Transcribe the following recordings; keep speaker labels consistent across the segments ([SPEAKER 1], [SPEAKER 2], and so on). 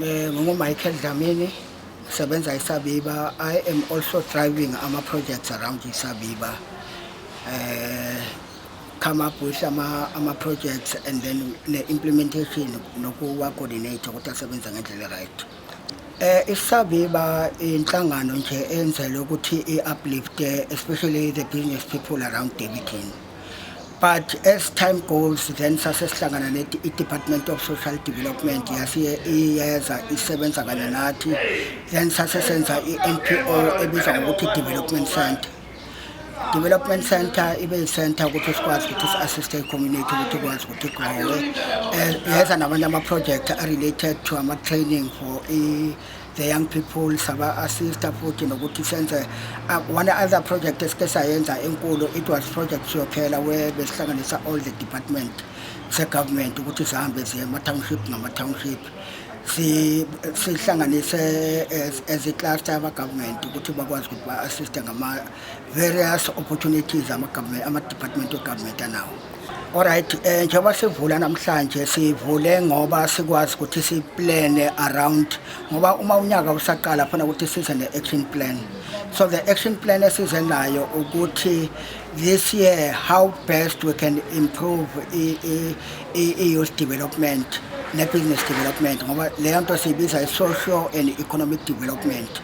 [SPEAKER 1] Eh, ngingumichael dlamini ngisebenza isabiba i am also driving ama-projects around isabiba um eh, come up with ama-projects and then ne-implementation nokuwa-coordinate ukuthi asebenza ngendlela right um eh, isabiba inhlangano nje enzelwe ukuthi i-uplifte especially the business people around debiton but as time goes then sase sihlangana ne department of social development yasiye iyeza isebenza kanye nathi then sase senza i-npo ebizwa ngokuthi development center development center ibe yi-center ukuthi sikwazi ukuthi si-assiste i-community ukuthi ikwazi ukuthi igrowe eh, yeza namanye ama-project a-related to ama-training for the young people saba-assista futhi nokuthi senze uh, one other project esike sayenza enkulu it was project siyophela where besihlanganisa all the department se-government ukuthi zihambe ziye ama-township ngama-township sihlanganise as i-cluster ama-government ukuthi bakwazi ukuthi ba-assiste various opportunities ama-government ama-department of government anawo Alright eh njengoba sivula namhlanje sivule ngoba sikwazi ukuthi si plan around ngoba uma unyaka usaqala khona ukuthi size ne action plan so the action plan esize nayo ukuthi this year how best we can improve i i i youth development ne business development ngoba leyo nto siyibiza i social and economic development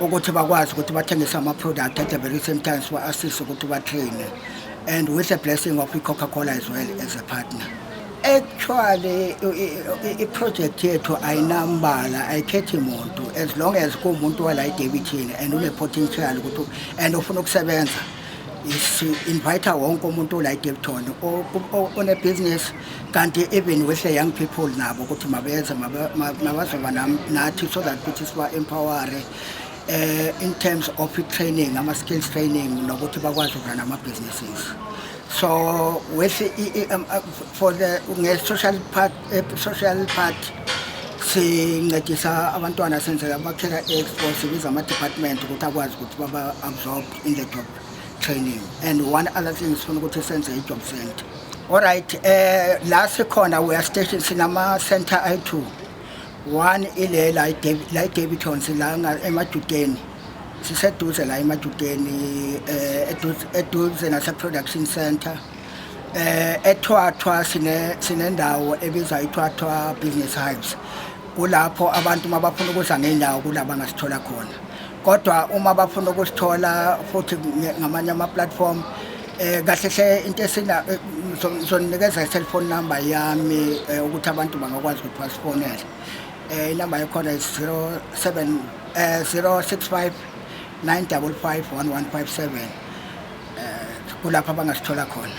[SPEAKER 1] ukuthi bakwazi ukuthi bathengise ama-product at the very same time siba-assist ukuthi batraine and with the blessing of i-coca cola as well as a partner actually i-project yethu ayinambala ayikhethi muntu as long as kuwumuntu wala edebithini and une-potential ukuthi and ufuna ukusebenza si-invite wonke umuntu ola edebithoni onebhizinisi kanti even with the young people nabo ukuthi mabeze mabazoba nathi so that ukuthi siba-empowere eh in terms of training ama skills training nokuthi bakwazi ukuna nama businesses so with um, uh, for the nge social part eh, social part sincedisa abantwana senzela bakhela expo sibiza ama department ukuthi akwazi ukuthi baba absorb in the job training and one other thing sifuna ukuthi senze i-job center olright um eh, la sikhona weya station sinama-center ayi-two one ile la idaviton sila emadudeni siseduze la emadudeni um eh, eduze nase-production center um ethwathwa sinendawo ebizwa ithwathwa business hives kulapho abantu uma bafuna ukuza ngenyawo kulaba ngasithola khona kodwa uma bafuna ukusithola futhi ngamanye ama-platform um kahle hle into esina eh, ngizoninikeza i-cellphone number yami um ukuthi abantu bangakwazi ukuthi basifonele um inumber yakhona yi-zero seven um zero six five nine double five one one five seven um kulapho abangasithola khona